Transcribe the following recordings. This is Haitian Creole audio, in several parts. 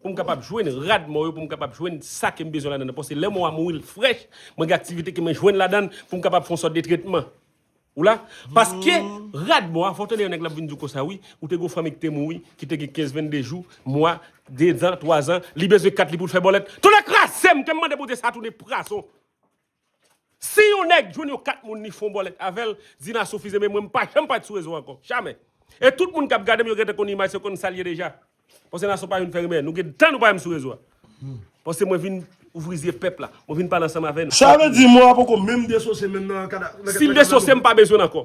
pou m kapab jwenn rad mò yo, pou m kapab jwenn sa ke m bezwen ladan nan, paske lè mò a mouri l frèch, mwen gen aktivite ke mwen jwenn ladan l pou m kapab fè yon sòt de tretman. Ou la? Paske rad mò a, fò w tande yon nèg l ap vin di w konsa, wi, ou te gen yon fanmi ki te mouri, ki te gen 15, 22 jou, mwa, 2 zan, 3 zan, li bezwen kat li pou l fè bòlèt. Tonè kraze m ke m mande Bondye sa tounen prazon! Si yon nèg jwenn yon kat moun li fon bòlèt avèl, Zina soufize men mwen mpa janm pati sou rezo ankò. Jamè. E tout moun kap gadem yo gentan konn imaj se konn sal ye deja. Paske Nassau pa vin fè rimè. Nou gen tan nou pa menm sou rezo a. Paske mwen vin ouvri zye pèp la. Mwen vin pale ansanm avè nou. Sa vle di mò a poko menm desosye menm nan kadav. Sil desosye mpa bezwenl ankò.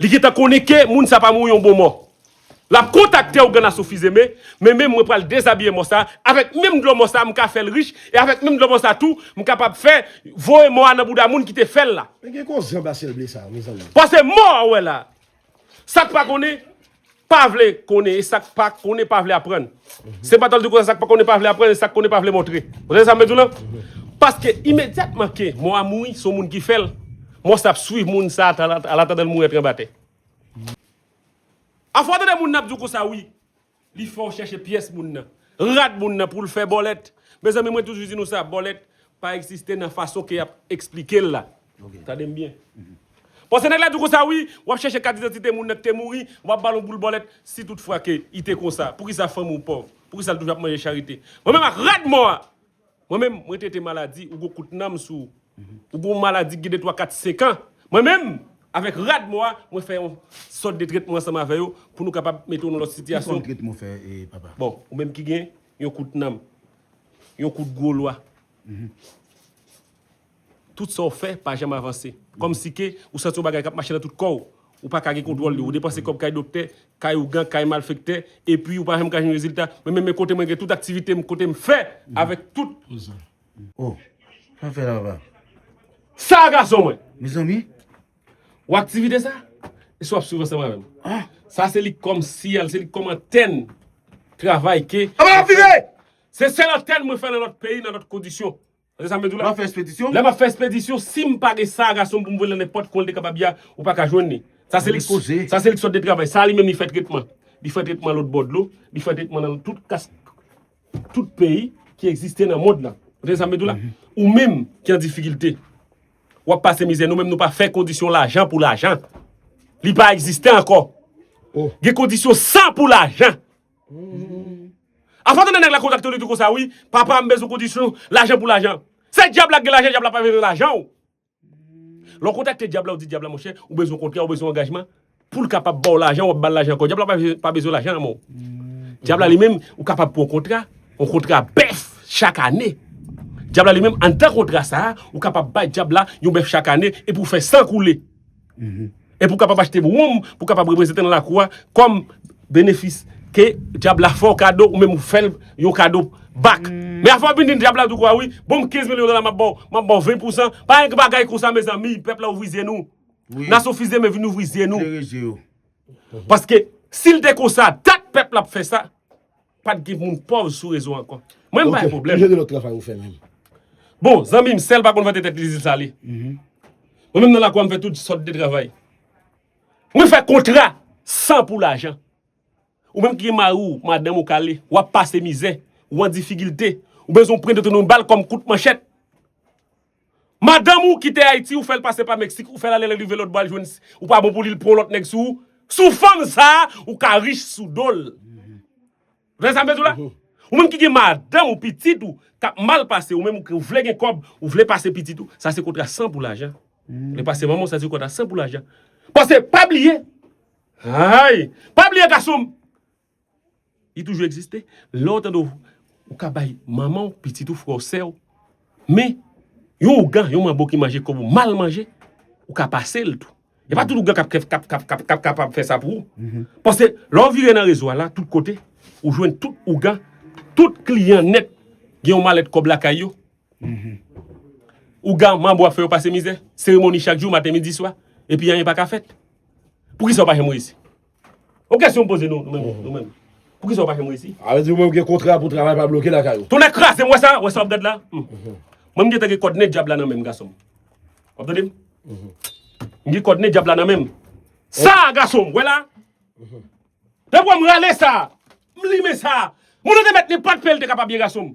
Li gentan konnen ke moun sa pa mouri yon bon mò. Lap kontakte ougan aso fizeme, men men mwen pral dezabiye mò sa, avèk menm dlo mò sa m ka fèl rich, e avèk menm dlo mò sa tou, m kapab fè voye mò a nan bouda moun ki te fèl la. Men gen kou zanba syèl ble sa mezanmi. Pase mò a ou wè la. Sak pa konnen Pa vle konnen e sa k pa konnen pa vle aprann. Se pa tanl di konsa sa k pa konnen pa vle aprann e sa k konnen pa vle montre. Ou tande sa m vle di w lan? Paske imedyatman ke mò a mouri, se yon moun ki fè l, mò sa ap swiv moun sa alatandan l mouri antre anba tè. Afò w tande moun nan ap di w konsa wi, li fè w chèche pyès moun nan, rad moun nan pou l fè bòlèt. Mezanmi mwen toujou di nou sa, bòlèt pa egziste nan fason ke y ap esplike l la. Tande m byen. Pase nèg la di w konsa wi, w ap chèche kat didantite moun nan ki te mouri, w ap ba l yon boul bòlèt, si tout fwa ke li te konsa, poukisa fanmi w pòv, poukisa l toujou ap manje charite. Mwen menm ak rad mò a! Mwen menm, mwen trete maladi, ou gen yon kout nanm sou ou, ou gen yon maladi ki gen de twa kat senkan, mwen menm, avèk rad mò a, mwen fè yon sòt de trètman ansanm avè yo pou nou kapab mete w nan lòt sitiyasyon. Ki fòm trètman w fè, papa? Bon, ou menm ki gen yon kout nanm, yon kout gwo lwa. Tout sa w fè pa janm avanse. Kòmsi ke ou santi yon bagay k ap mache nan tout kò w. Ou pa ka gen kontwòl li. Ou depanse kòb kay doktè, kay ougan, kay malfektè, epi ou pa janm ka jwenn rezilta. Men men men kote mwen gen tout aktivite m, kote m fè avèk tout. O! Sa w fè la papa? Sa a gason mwen! Mezanmi! Wè aktivite sa? Èske w ap swiv ansanm avè m? Sa a se li kòm siyal, se li kòm antèn travay ke. Aba ap vire! Se sèl antèn mwen fè nan lòt peyi, nan lòt kondisyon. Tande sa m ap di w la. Lè w ap fè espedisyon. Lè m ap fè espedisyon, si m pa gen sa gason m pou m voye lan nenpòt kwen l te kapab ya, ou pa ka jwenn li. Sa se li k koze. Sa se li k sot de travay. Sa li menm li fè tretman. Li fè tretman lòt bò dlo. Li fè tretman lan tout kas, tout peyi ki egziste nan mond lan. Ou tande sa m ap di w la? Ou menm ki an difikilte, w ap pase mizè. Nou menm nou pa fè kondisyon lajan pou lajan. Li pa egziste ankò. Gen kondisyon san pou lajan. Afè tande nèg la kontakte w li di w konsa wi, papa m bezwen kondisyon, lajan pou lajan. Se dyab la k gen lajan, dyab la pa bezwen lajan w. Lè w kontakte dyab la w di dyab la monchè, ou bezwen kontra, ou bezwen angajman, pou l kapab ba w lajan, w ap ba l lajan ankò. Dyab la pa bezwen lajan anmò. Dyab la li menm, ou kapab pran yon kontra, yon kontra bèf chak ane. Dyab la li menm anndan kontra sa a, ou kapab bay dyab la yon bèf chak ane epi w fè san koule. Epi ou kapab achte woum pou w kapab reprezante nan lakou a kòm benefis ke dyab la fè w kado ou menm ou fè l yon kado bak. Men afè w vin di dyab la tou kwa wi, bon m 15 milyon dola m ap ba w, m ap ba w 20 pousan, pa gen bagay konsa mezanmi, pèp la ouvri zye nou. Nasyon Fils Demain vin ouvri zye nou. Paske si l te konsa dat pèp la ap fè sa. Pat gen moun pòv sou rezo ankò. Mwen m pa gen pwoblèm. Ok, ki jan de lòt travay ou fè menm? Bon, zanmi m, sèl pa konn vante tèt li zil sale. Mwen menm nan lakou a m fè tout sòt de travay. Mwen fè kontra san pou lajan. Ou menm ki gen mari w, madanm ou kale, w ap pase mizè, ou an difigilte, ou bezwen yon prent otonom bal kòm kout manchèt. Madanm ou kite ayiti ou fèl pase pa mexique ou fèl ale lèl rive lòt bò al jwenn ou pa bon pou li l pran yon lòt nèg sou ou sou fanm sa ou ka rich sou dol vle sa m vle di w la ou menm ki gen madanm ou pitit ou kap mal pase ou menm ou vle gen kòb ou vle pase pitit ou sa se kontra san pou lajan vle pase manman w sa se kontra san pou lajan pase pa bliye hay pa bliye gason m. Li toujou egziste. Lè w tande ou ka bay manman w, pitit ou, frè w, sè w. Men, yon ougan, yon manbo ki manje kòb ou mal manje, ou ka pase l tou. E pa tout ougan k ap kapab fè sa pou ou. Pase, lè w vire nan rezo a la, tout kote, ou jwenn tout ougan, tout kliyan nèt gen yon malèt kòb lakay yo. Ougan, manbo ap fè yo pase mizè. Seremoni chak jou, maten, midi, swa. Epi anyen pa ka fèt. Poukisa ou pa janm reyisi? Yon kesyon m poze nou menm nou menm. Poukisa ou pa fèm resi? A vle di ou menm gen kontra pou travay pa bloke lakay ou. Tonnè kraze m wè sa, wè sa wap gad la? Mwen m gentan gen kòd nen dyab la nan menm gason m. Wap tande m? M gen kòd nen dyab la nan menm. Sa a gason m, wè la? Depi wè m rale sa a, m limen sa a. Moun an te mèt ni pat fè l te ka pa byen gason m.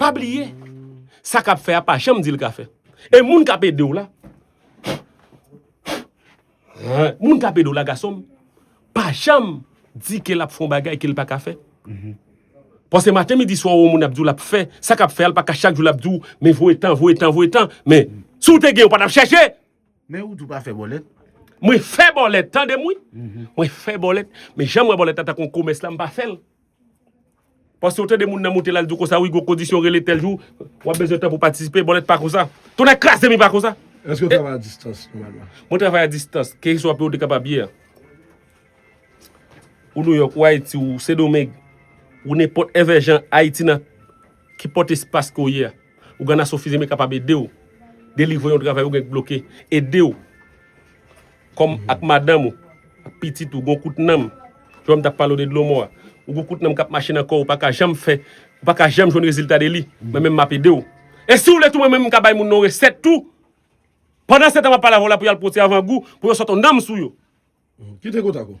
Pa bliye, sa kap fè a pa janm dil ka fè. E moun kap edew la, moun kap edew la gasonm, pa janm di ke lap fon bagay kel pa ka fè. Pase maten midi swa ou moun ap diw lap fè, sa kap fè a lpa ka chak jou lap diw men voye tan, voye tan, voye tan. Men, si ou te gen ou pa tap chèche. Men ou di ou pa fè bòlèt. Mwen fè bòlèt, tandem wi. Mwen fè bòlèt, men janm wè bòlèt la tankou yon komès la mpa fèl. Paske ou tande moun nan moute la li di w konsa wi gon kondisyon rele tèl jou wap bezwen tan pou patisipe bòlèt pa konsa tonnè kraze m i pa konsa. Eske w travay a distans nòmalman? Mwen travay a distans keswa peyi w te kapab ye a. Ou Nouyòk, ou Ayiti, ou Sendomeng, ou nenpòt èvè jan Ayiti nan kenpòt espas ke w ye a. Ouganasyon Fizeme kapab ede w delivre yon travay ou gen k bloke, ede w. Kòm ak madanm ou, ak pitit ou gon kout nanm, jan wè m tap pale w de dlo mò a, ou gon kout nanm kap mache nan kò w ou paka janm fè, ou paka janm jwenn rezilta de li, mwen menm map ede w. E si w vle tou mwen menm m ka bay moun nan yon resèt tou, pandansetan map pale avè w la pou y al pote avangou pou yo sot yon nanm sou yo. Kite kontak ou.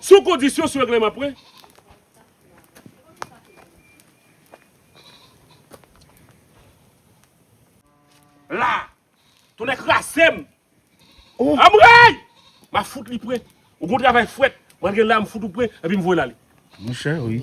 Sou kondisyon sou regleman pre. La. Tonnè krase m. Anmreyy! M ap fout li pre. Ou gon travay fwèt. M antre la m fout ou pre epi m voye l ale. Mouche wi.